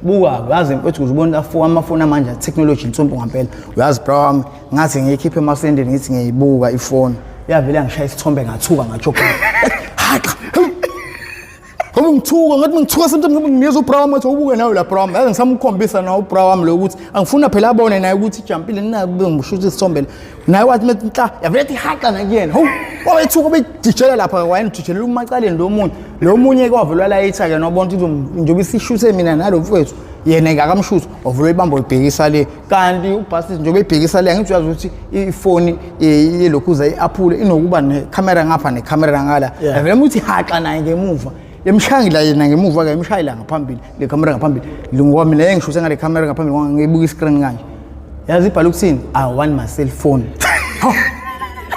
buka uyazi mfethu kuze ubona afo amafoni amanje technology insumpu ngampela uyazi bro ngathi ngiyikhiphe emasendeni ngithi ngiyibuka ifoni yavele yangishaya isithombe ngathuka ngajoka haqa Ngoba ngithuka ngathi ngithuka sometimes ngoba ngiyeza ubra wami athi ubuke nawe la bra wami. Yazi ngisamukhombisa nawe ubra wami lo ukuthi angifuna phela abone naye ukuthi ijampile nina bengishuthi isithombeni. naye wathi methi nta yavele ethi haqa nakuyena hawu wawethuka ubejijela lapha wayenijijelela umacaleni lo munye lo munye kwavulwa layitha-ke nobona ukuthi njengoba isishuthe mina nalo mfowethu yena ngakamshuthi wavula ibamba libhekisa le kanti ubhasisi njengoba ebhekisa le angithi uyazi ukuthi ifoni yelokhuza i-aphule inokuba nekhamera ngapha nekhamera ngala yavele muthi haxa naye ngemuva Yemshayela yena ngemuva ke imshayela ngaphambili le camera ngaphambili lingoba mina engishuse ngale camera ngaphambili ngoba ngibuka iscreen kanje. Yazi ibhala ukuthini? I want my cell phone.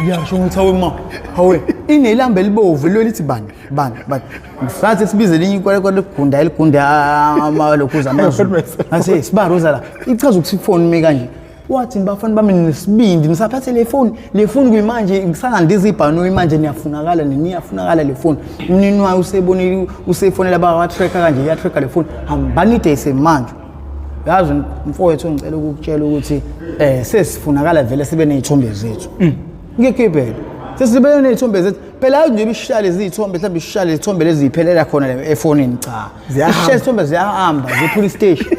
Ngiyasho ukuthi hawe ma, hawe inelamba elibovu lo lithi bani? Bani? Bani? Ngisathi sibize linye ikwale kwale gunda eligunda amalokhuza amazulu. Ngase sibaruza la. Ichaza ukuthi phone me kanje. Wathi bafana bami nesibindi nisaphathe le foni le foni kuyimanje ngisangandiza ibhanoyi manje niyafunakala niyafunakala le foni umnini wayo usebonile usefonela bawatracker kanje iyatracker le foni hambani idayise manje yazi mfowethu ngicela ukukutshela ukuthi eh sesifunakala vele sibe nezithombe zethu mm. ngikhiphele sesibe nezithombe zethu phela hayi nje ibishale izithombe mhlawumbe ishale izithombe leziphelela khona efonini cha ziyahamba izithombe ziyahamba ziphula istation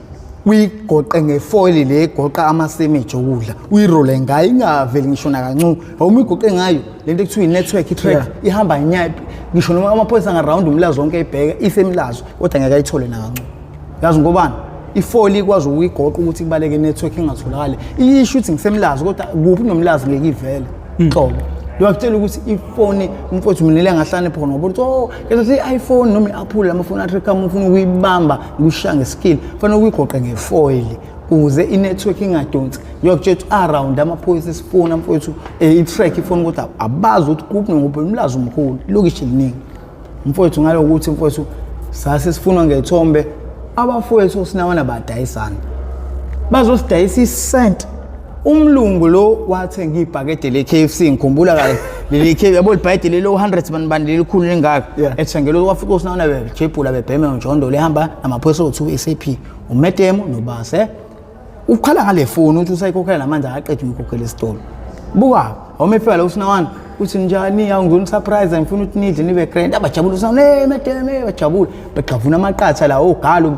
uyigoqe ngefoyili le egoqa amasemeji okudla uyirole ngayo ingaveli ngisho nakancu awuma igoqe ngayo le nto ekuthiwa i-network i-track ihamba nyaphi ngisho noma amaphoyisa angarawundi umlazo wonke ayibheka isemlazo kodwa ngeke ayithole nakancu yazi ngobani ifoli ikwazi ukuyigoqa ukuthi kubaleke i-network ingatholakali iyisho ukuthi ngisemlazi kodwa kuphi nomlazi ngeke ivele hmm. nhlobo lwakutshela ukuthi ifoni mfowethu mina lengahlane phona ngoba ukuthi o oh, ngezothi i-iphone noma i-apple lamafoni athi kama ufuna ukuyibamba ukushiya ngeskill kufanele uyigoqe ngefoyili kuze inetwork ingadonsi ngiyokutshela ukuthi around amaphoyisa esifuna mfowethu eh, i-track ifuna ukuthi abazi ukuthi kuphi nokuphi umlazi umkhulu ilokishi eliningi mfowethu ngalo ukuthi mfowethu sase sifunwa ngethombe abafowethu osinawana badayisana bazosidayisa isent umlungu lo wathenga ibhakede le-kfc ngikhumbula kahle leli kfc yabo libhayede lelo 100 bani bani lelikhulu lingaka Yeah. ethengele wafika usinana bejebhula bebheme njondola ehamba namaphoyisa othiwa i-sap umetemo nobase ukhala ngale foni ukuthi usayikhokhela namanje akaqedi ukuyikhokhela esitolo buka Home fela usinawana uthi njani awungizona surprise ngifuna ukuthi nidle nibe grand abajabula usinawana hey mademe bajabula begxavuna amaqatha la ogalo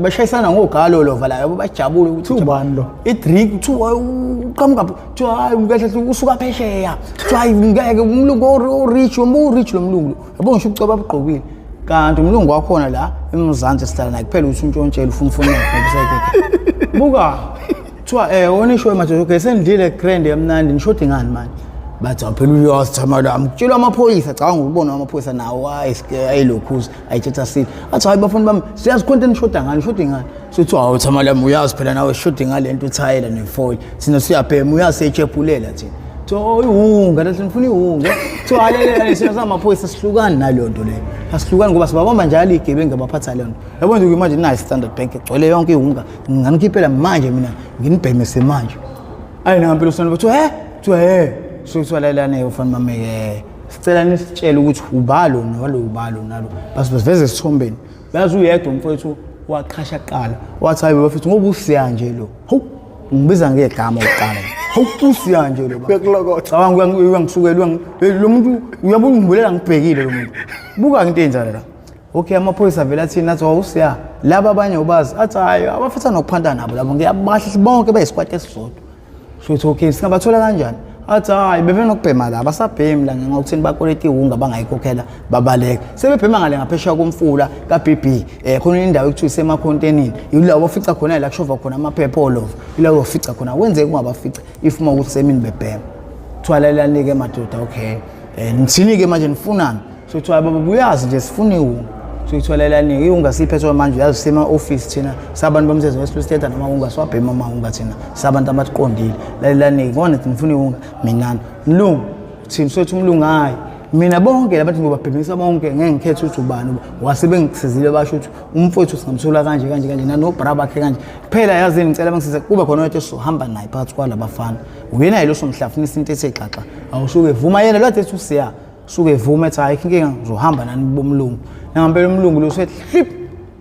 bashayisana ngogalo lova la yabo bajabula ukuthi ubani lo i drink kuthiwa uqhamuka kuthiwa hayi kahle usuka phesheya kuthiwa hayi ngeke umlungu o rich umbu rich lo mlungu yabo ngisho ubucoba bugqokile kanti umlungu wakhona la emzansi sihlala naye kuphela uthi untshontshela ufuna ufuna buka kuthiwa um eh, onishowe madoda okay sendidlile grand yamnandi nishodi ngani manje bathi awuphela uyosithama lami kutshelwa amaphoyisa cabanga ukubona amaphoyisa nawo ayilokhuza ayithetha sile athi hayi bafuni bami siyazi khonto enishoda ngani shodi ngani sothi hawu thama lami uyazi phela nawe shodi ngale nto uthayela nefoil thina siyabhema uyasetshepulela thina so oh, iwunga lathi ngifuna iwunga so halelele sina samaphoyisa sihlukani naleyo nto leyo asihlukani ngoba sibabamba njalo igebengu abaphatha leyo nto yabona nje imanje nayi standard bank igcwele yonke iwunga nginganikhiphela manje mina nginibhemese manje ayi nangampela usana bathiwa he kuthiwa he suke kuthiwa lalelane ufana mameke sicela nisitshele ukuthi ubalo nalo ubalo nalo basiveze esithombeni yazi uyedwa umfowethu waqhasha kuqala wathi hayi bafethu ngoba usiya nje lo hawu ngibiza ngegama kuqala hawu usiya nje lo bekulokotha cabanga uyangisukela lo muntu uyabona ngibuleka ngibhekile lo muntu buka into enzala la okay amaphoyisa vele athini athi wawusiya laba abanye ubazi athi hayi abafisa nokuphanta nabo labo ngiyabahle bonke bayisikwati esisodwa shuthi okay singabathola kanjani athi hayi bebenokubhema la basabhemi la ngenxa ukuthini bakoleta iwunga bangayikhokhela babaleka sebebhema ngale ngaphesheya komfula ka-bb um eh, khona indawo ekuthiwa isemakhontenini yila ofica khona la kushova khona amaphepha olova yila ofica khona kwenzeke ungabafica if uma ukuthi semini bebhema kuthiwa lalelani-ke madoda okay um eh, ngithini-ke manje nifunani so kuthiwa baba buyazi nje sifuna iwunga so ithola elaningi iwunga siphethwe manje uyazi sima office thina sabantu bomsebenzi wesipesiteta noma unga swabhema uma unga thina sabantu abaqondile lalelaningi ngone ngifuna iwunga mina mlungu thina sothi umlungu hayi mina bonke labantu ngibabhemisa bonke ngeke ngikhethe ukuthi ubani wase bengisizile basho ukuthi umfowethu singamthola kanje kanje kanje nanobra bakhe kanje kuphela yazini ngicela bengisize kube khona oyedwa esizohamba naye phakathi kwalabafana uyena yilo somhlafunisa into ethe xaxa awushuke vuma yena lwathi ethi usiya suke evume ethi hayi inkinga ngizohamba nani bomlungu nangampela umlungu lo sethi hlip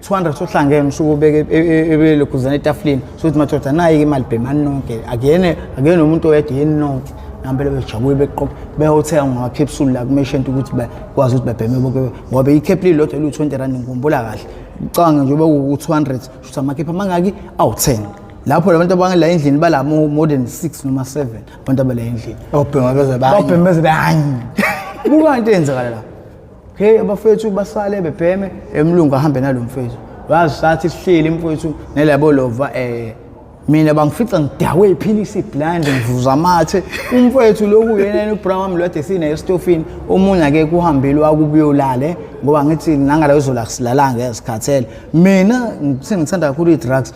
200 sohlangene usuke ubeke e, e, ebelokhuzana etafuleni sokuthi madoda nayi-ke imali bhemani nonke akuyene akuyena umuntu oyedwa yeni nonke ngampela bejabule beqoqa behothenga ngamakhepsuli la kumeshent ukuthi bakwazi ukuthi babheme bonke ngoba ikhephili lodwa eliwu-20 rand ngikhumbula kahle ucabange nje beku-200 shuthi amakhephi amangaki awu-10 lapho labantu abangela endlini bala more than 6 noma 7 abantu abaleyo endlini obhema beze banye obhema beze banye kuba into eyenzakala la okay abafethu basale bebheme emlungu ahambe nalo mfethu wazi sathi sihleli mfethu nelabo lova eh mina bangifica ngidakwe iphilisi blind ngivuza amathe umfowethu lokhu yena yena ubra wami lwade sinaye estofini omunye ake kuhambile wakubuyolale ngoba ngithi nangala uzola silalanga ezikhathele mina sengithanda kakhulu i-drugs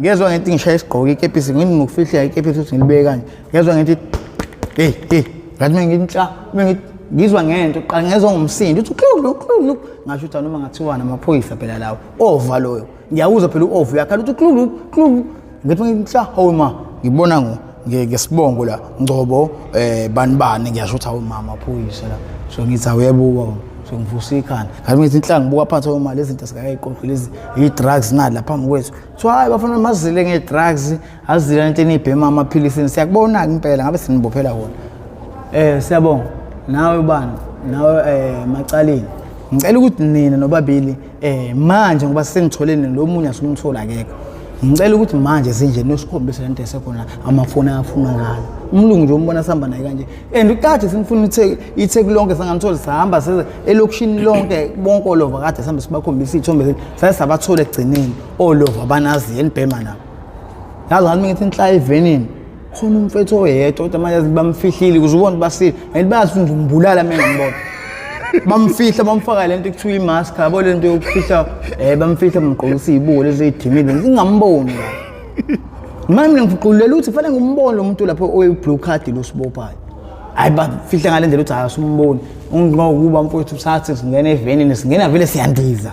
ngezwa ngenti ngishaya isigqoke ikepisi ngini ngokufihleka ikepisi ukuthi ngilibeke kanje ngezwa ngenti hey hey ngathi mina ngintsha mina ngithi ngizwa ngento qala ngezwa ngomsindo uthi uklulu uklulu ngasho ukuthi noma ngathiwa namaphoyisa phela lawo ova loyo ngiyawuzwa phela uova uyakhala uthi uklulu uklulu ngithi ngintsha hawu ma ngibona ngo ngesibongo la ngcobo eh banibani ngiyasho ukuthi awumama phuyise la so ngithi awuyebuka so ngivusa ikhanda kanti ngithi inhlanga ngibuka phansi uma lezi zinto sikayiqoqi lezi i-drugs nali lapha phambi kwethu kuthiwa hhayi bafana mazile nge-drugs azile lento eniyibhema amaphilisini siyakubona-ke impela ngabe sinibophela wona um siyabonga nawe ubani nawe um macaleni ngicela ukuthi nina nobabili Eh manje ngoba sengitholene lo munye asumthola akekho. Ngicela ukuthi manje sinje nosikhombise lento esekhona amafoni ayafuna ngalo. Umlungu nje umbona sihamba naye kanje. And uqathe simfuna ithe ithe kulonke sangamthola sihamba seze elokishini lonke bonke olova kade sihambe sibakhombisa izithombe zethu. Saye sabathola egcineni olova banazi yenibhema nabo. Yazi ngathi ngithi inhla evenini. khona umfethu oyedwa kodwa manje bamfihlile ukuze ubone basile and bazi ukuthi ngimbulala mina ngibona bamfihla bamfaka lento ekuthiwa imask yabo lento yokufihla eh bamfihla bamgqokisa izibuko lezi ezidimile ngingamboni la manje mina ngifuqulela ukuthi fanele ngimbone lo muntu lapho oyi-blue card lo sibophayo hayi bafihla ngale ndlela ukuthi hayi usumboni ungokuba mfowethu sathi singena evenini singena vele siyandiza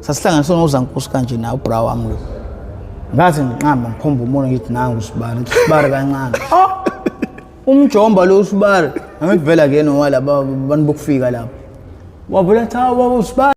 sasihlanganiswe ngozankosi kanje nawo ubra wami lo ngaze ngiqamba ngikhomba umona ngithi nangu usibari ngithi usibari kancane oh! umjomba lo usibari angikuvela kuyena owalaba bantu bokufika lapho wavula cha baba usibari